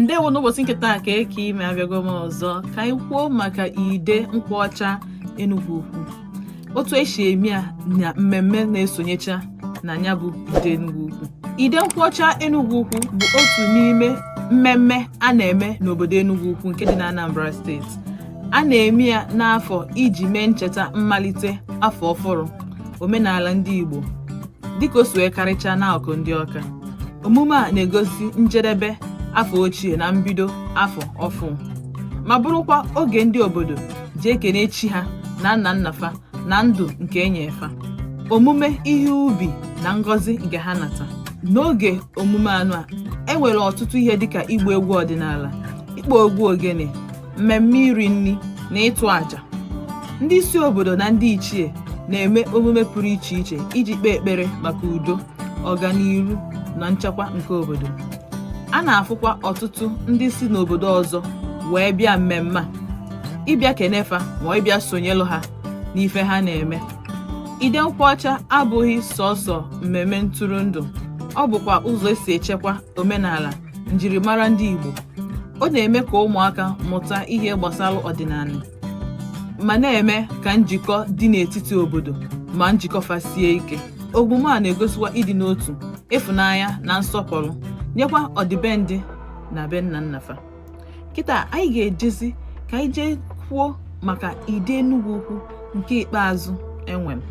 ndewo n'ụbọsị nke taa ka eke ime abịago m ọzọ ka anyị kwuo maka Ide Nkwocha Enugwu Ukwu otu esi eme ya na mmemme na-esonyecha na nya bụ Ide Enugwu Ukwu Ide Nkwocha Enugwu Ukwu bụ otu n'ime mmemme a na-eme n'obodo Enugwu Ukwu nke dị na Anambra state a na-eme ya n'afọ iji mee ncheta mmalite afọ ọfụrụ omenala ndị Igbo dịka o si wee karịchaa n'akụkụ ndị Ọka Omume a na-egosi njedebe afọ ochie na mbido afọ ọfụ ma bụrụkwa oge ndị obodo ji ekene chi ha na nna nna fa na ndụ nke enye fa omume ihe ubi na ngọzi nke ha nata n'oge omume anụ a enwere ọtụtụ ihe dịka ịgba egwu ọdịnala ịkpọ egwu ogene mmemme iri nri na ịtụ àjà ndị isi obodo na ndị ichie na-eme omume pụrụ iche iche iji kpee ekpere maka udo ọganihu na nchekwa nke obodo a na-afụkwa ọtụtụ ndị si n'obodo ọzọ wee bịa mmemme a ịbịa kene fa ma ịbịa sonyelụ ha n'ife ha na-eme Ide Nkwocha abụghị sọsọ mmemme ntụrụndụ ọ bụkwa ụzọ esi echekwa omenala njirimara ndị Igbo ọ na-eme ka ụmụaka mụta ihe gbasara ọdịnala ma na-eme ka njikọ dị n'etiti obodo ma njikọ fa sie ike omume a na-egosikwa ịdị n'otu ịfụnanya na nsọpụrụ nyekwa ọdịbendị na be nna nna fa kịta anyị ga-ejezi ka anyị jee kwuo maka Ide Enugwu Ukwu nke ikpeazụ enwere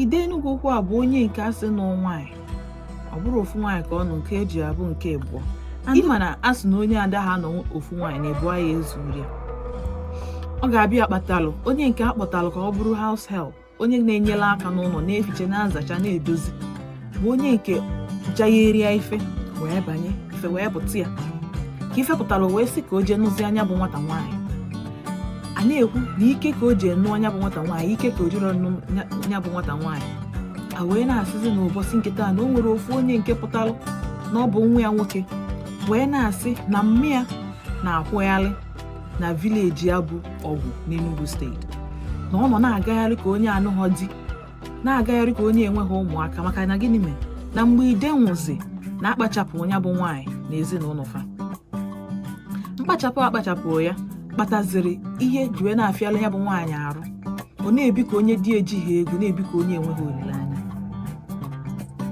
Ide Enugwu Ukwu a bụ onye nke asị nụ nwaanyị ọ bụrọ ofu nwaanyị ka ọ nụ nke eji abụ nke ịbụọ ịma na a sị na onye adaha anụ ofu nwaanyị na ịbụọ ya ezuru ya ọ ga-abịa kpatalụ onye nke a kpọtalụ ka ọ bụrụ house help onye na-enyere aka n'ụlọ na-efiche na-azacha na-edozi bụ onye nke jagheria ife wee banye ife wee pụta ya ka ife pụtara wee sị ka o jee nụzia nya bụ nwata nwaanyị a na-ekwu na ike ka o ji nụọ nya bụ nwata nwaanyị ike ka o jiri nụọ nya bụ nwata nwaanyị a wee na-asịzi n'ụbọsị nke taa na o nwere ofu onye nke pụtara na ọ bụ nwa ya nwoke wee na-asị na mma ya na-akwụgharị na village ya bụ Ọgwụ n'Enugu state na ọ nọ na-agagharị ka onye anụhọ di na-agagharị ka onye enweghị ụmụaka maka na gịnị mere na mgbe Ide nwụzi na akpachapụ nya bụ nwaanyị na ezinụlọ fa mkpachapụ akpachapụ ya kpataziri ihe ji wee na-afịala nya bụ nwaanyị arụ ọ na-ebi ka onye di ejighị ego na-ebi ka onye enweghị olileanya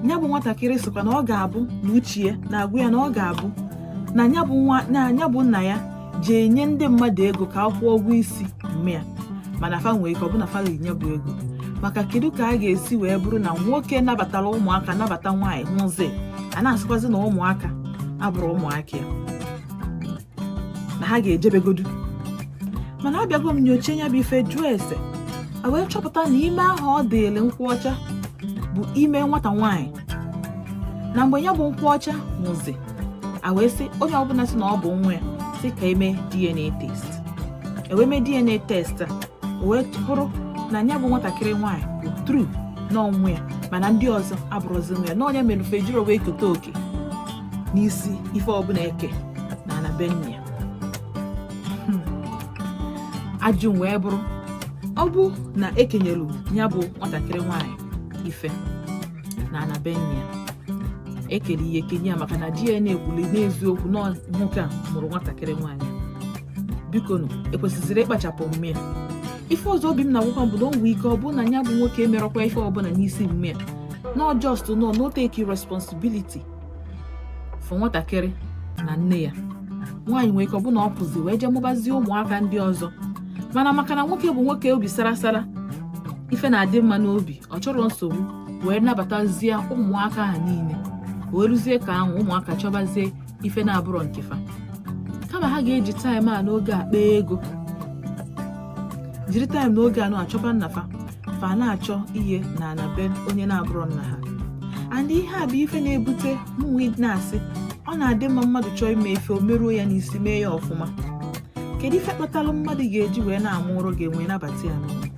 nya bụ nwatakịrị sịkwa na ọ ga-abụ na uche ya na-agwa ya na ọ ga-abụ na nya bụ nna ya ji enye ndị mmadụ ego ka akwụọ ụgwọ isi mme ya mana fa nwee ike ọ bụ na fa ga-enye bụ ego maka kedu ka a ga-esi wee bụrụ na nwoke nabatara ụmụaka nabata nwaanyị nwụzi a na-asịkwazi na ụmụaka abụrọ ụmụaka ya na ha ga-ejebegodu mana abịago m nyocha ya bụ ife jụọ ese a wee chọpụta na ime ahụ ọ dịịrị nkwocha bụ ime nwata nwaanyị na mgbe ya bụ nkwocha nwụzi a wee sị onye ọbụla sị na ọ bụ nwa ya sị ka eme DNA test ewee mee DNA test a wee bụrụ na ya bụ nwatakịrị nwaanyị bụ tru na ọ nwa ya mana ndị ọzọ abụrọzi nwa ya na ọ nya mere fa ejirọ wee keta oke n'isi ife ọbụla eke na ana be nna ya hmm. ajụjụ wee bụrụ ọ bụ na ekenyelu ya bụ nwatakịrị nwaanyị ife na ana be nna ya ekere ihe kenye ya maka na DNA ekwuli n'eziokwu na ọ nwoke a mụrụ nwatakịrị nwaanyị biko nụ ekwesịziri ịkpachapụ mme ya ife ọzọ obi m na-agwakwa m bụ na o nwee ike ọ bụrụ na ya bụ nwoke emerọkwa ife ọbụla n'isi mme ya na ọ just nọ no take responsibility for nwatakịrị na nne ya nwaanyị nwere ike ọbụna ọ pụzi wee jee mụbazie ụmụaka ndị ọzọ mana maka na nwoke bụ nwoke obi sara sara ife na-adị mma n'obi ọ chọrọ nsogbu wee nabatazie ụmụaka ha niile wee ruzie ka ahụ ụmụaka chọbazie ife na-abụrọ nke fa kama ha ga-eji taịm a n'oge a kpaa ego jiri taịm n'oge a na-achọba nna fa fa na-achọ ihe na ana be onye na-abụrọ nna ha and ihe a bụ ife na-ebute mụnwa na-asị ọ na-adị mma mmadụ chọọ ime ife o meruo ya n'isi mee ya ọfụma kedu ife kpatara mmadụ ga-eji wee na-amụrụ gị nwa ị nabata ya n'ụlọ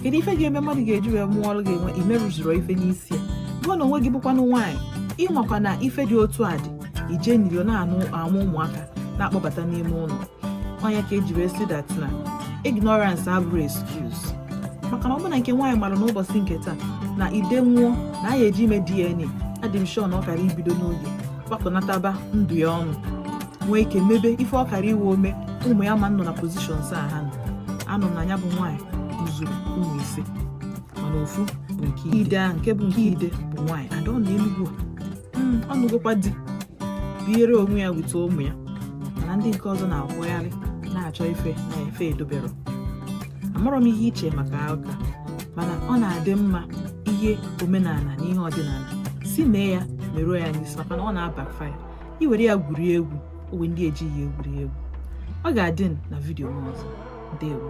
kedu ife ga-eme mmadụ ga-eji wee mụọrọ gị nwa imerụzuru ife n'isi ya gị na onwe gị bụkwanụ nwaanyị ịmakwa na ife dị otu a dị ị je n'iro na-amụ ụmụaka na-akpọbata n'ime ụlọ ọ nya ka eji wee sị dat na ignorance abụrọ excuse maka na ọ bụ na nke nwaanyị mara n'ụbọchị nke taa na ide nwụọ na a ya-eje ime DNA adị m sure na ọ kara ibido n'oge gbakọnataba ndụ ya ọnụ nwee ike mebe ife ọ kara iwe ome ụmụ ya ma nọ na positions a ha nọ anụ m na nya bụ nwaanyị mụzuru ụmụ ise mana ofu bụ nke ide ahụ nke bụ nke ide bụ nwaanyị and ọ na enugwu a hmm, ọ nụgokwa di biere onwe ya with ụmụ ya mana ndị nke ọzọ na-akwụgharị na-achọ ife na ebe edoberọ amarọ m ihe i che maka ụka mana ọ na-adị mma ihe omenala na ihe ọdịnala sị mee ya meruo ya n'isi maka na ọ na-abackfire i were ya gwurie egwu o nwe ndị ejighị egwuri egwu ọ ga-adị na vidiyo m ọzọ ndewo